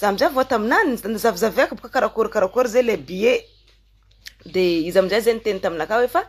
Za amin'izay vao taminany nozavizaviako boka karakory karakory zay le billet de izy amin'izay zay niteny taminakahy hoe fa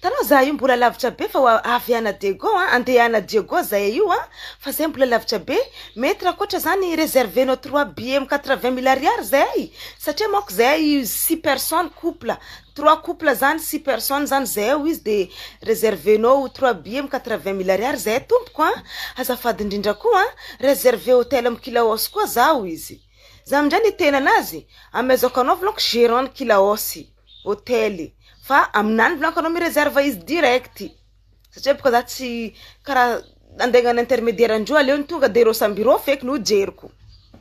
tanao za io mbola lavitra be fa avy ana Diego a andeha ana Diego zay io a fa zay mbola lavitra be mety raha koatra zany reserve nao trois billet quatre vingt mille ariary zay satria manko zay six personnes couple Trois couple zany six personnes zany zay ao izy de reservenao ho trois billets am quatre vingt mille ariary zay tompoko a! azafady indrindra koa a! reserve hotel am kilaosy koa zaho izy zany indray ny tena anazy am ezaoko anao vloko gerant ny kilaosy hotel fa aminany vlako anao mi reserve izy direct satria boka za tsy kara andeha agnano intermediaire ndreo aleo ny tonga de reo samby reo feky no jeriko.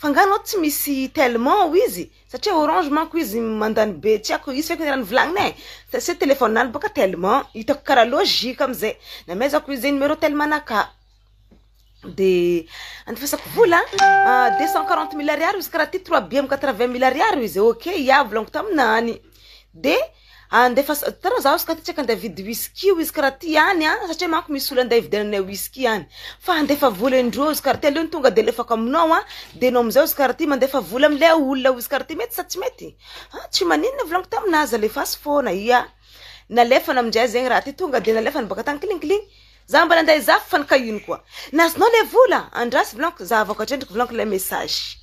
Fa nga anao tsy misy tellement ao izy? Satria orange manko izy mandany be tsy aiko izy feky raha nivolagniny e! Sa sa téléphone anao boka tellement hitako karaha logique amzay namezako izy numero tellement naka de andefasako vola deux cent quarante mille ariary izy karaha ty trois billets quatre vingt mille ariary izy ok ia volagniko taminao any. De andefas- hitanao zaho izy ka ty tsy akandeha hividy whisky hoy izy ka raha ty any an, satria manko misy olona andeha hividiananay whisky any, fa andefa vola indroa izy ka raha ty aleo ny tonga de alefako aminao an, de enao amizao izy ka raha ty mandefa vola amle olona hoy izy ka raha ty, mety sa tsy mety? ah tsy maninona volaniko taminazy alefaso foana, ia nalefany amizay zegny raha ty tonga de nalefany baka tany kling kling, za mbola andeha hizaha f'fany ka ino koa, ny azonao le vola? andraso volaniko, za avy ato an-trano ndreky volaniko le message.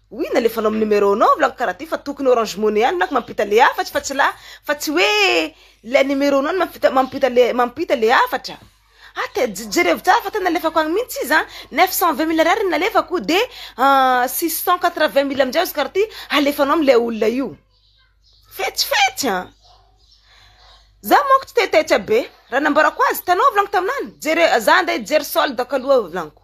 Oui nalefanao am numero nao vlog karaha ty fa tokony orange money ihany nako mampita le hafatry fa tsy la fa tsy hoe ilay numero nao no mampita mampita le mampita le hafatra ah te je jerevo tsara fa tena nalefako any mintsy izy an neuf cent vingt mille ariary no nalefako de six cent quatre vingt mille amizay azo karaha ty halefanao am le olona io fetsy fetsy an za manko tsy te taitra be raha nambarako azy hitanao vlog taminany jere za ande hijery solde ko aloha vlaniko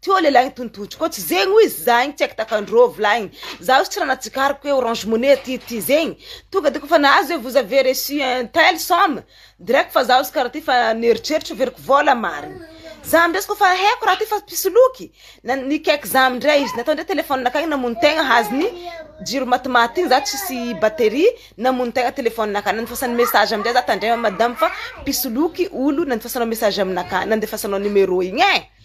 Ty ô lehilahy nitontotro ko tsy zegny oiz za igny tsy aiko takandrô volagny za ozy tsy raha natsikariko hoe orange money aty ty zegny tonga de kôfa nahazo hoe vous avez reçu un tel somme direct fa za ozy kara ty fa nieritreritra averiko vôla marigny za amizay izy kôfa heko raha ty fa mpisoloky na- nikaiky za amindray izy natao ndray telefony nakany namono tegna hazo ny jiro matimaty igny za tsisy battery namono tegna telefony nakany nandefasany message amizay za tandrema madama fa mpisoloky olo nandefasanao message aminakahy nandefasanao numéro igny e.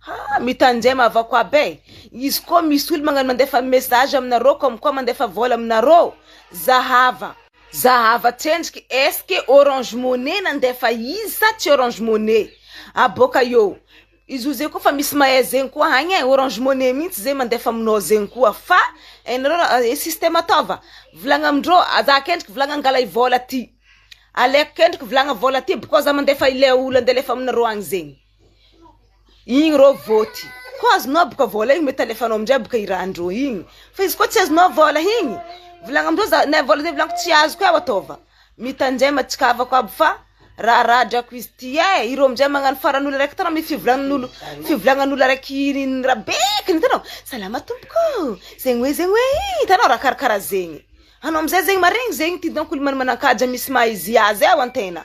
Haa mitanjem avao koa be izy koa misy olo magnano mandefa message aminareo comme quoi mandefa vola aminareo za hava. Za hava tsendriky est-ce que orange money nandefa izy sa tsy orange money ah boka eo izy io zay koa fa misy mahay zegny koa hagny eh orange money mintsy zay mandefa aminao zegny koa fa enareo ra eh système ataova volagna amindreo za kendriky volagna angala i vola ty aleko kendriky volagna vola ty bkô za mandefa ilay olo ande alefa aminareo agny zegny. Igny rô vote ko azonao boka vôla igny mety alefanao amizay boka i rahandrô igny fa izy ko tsy azonao vôla igny volagno amindreo za na vôla zay volaniko tsy azoko eo ataova mitanjay matsikavako aby fa raha raha drako izy ty e ireo amizay magnano faran'olo araiky tana amy fivolagnan'olo fivolagnan'olo araiky iny raha be kny itanao salama tompoko o zegny hoe zegny hoe i itanao raha karakara zegny anao amizay zegny maregny zegny ty donc olo mana- manan-kaja misy maha izy azy eo an-tegna.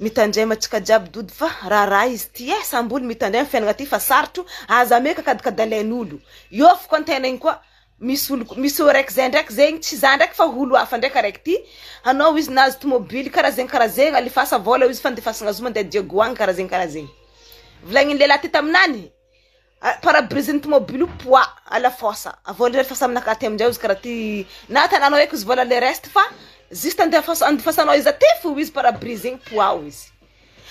Mitandrema antsika jiaby dody fa raharaha izy ty eh samboly mitandrema fiainana ty fa sarotro aza meka kadikadalain'olo eo foko an-tena iny koa misy olo misy eo raiky zay ndraiky zegny tsy za ndraiky fa olo hafa ndraiky araiky ty hanao izy nahazo tomobily karaha zegny karaha zegny alefasa vôla izy fandefasana azy mandeha diagoa any karaha zegny karaha zegny volanin'ny lehilahy ty taminany Pare-brise ny tomobily io poa à la force avy eo ndray rehefa samy naka aty aminjay ozy karaha ty na tananao eky ozy vola le reste fa juste andefas- andifasanao izy aty fo ozy pare-brise igny poa ozy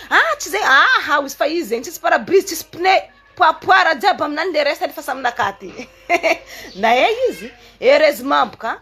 ah tsy zay aha ozy fa izy zegny tsisy pare-brise tsisy pneu poa poa raha jiaby aminany le reste rehefa samy naka aty nahay izy heureusement boka.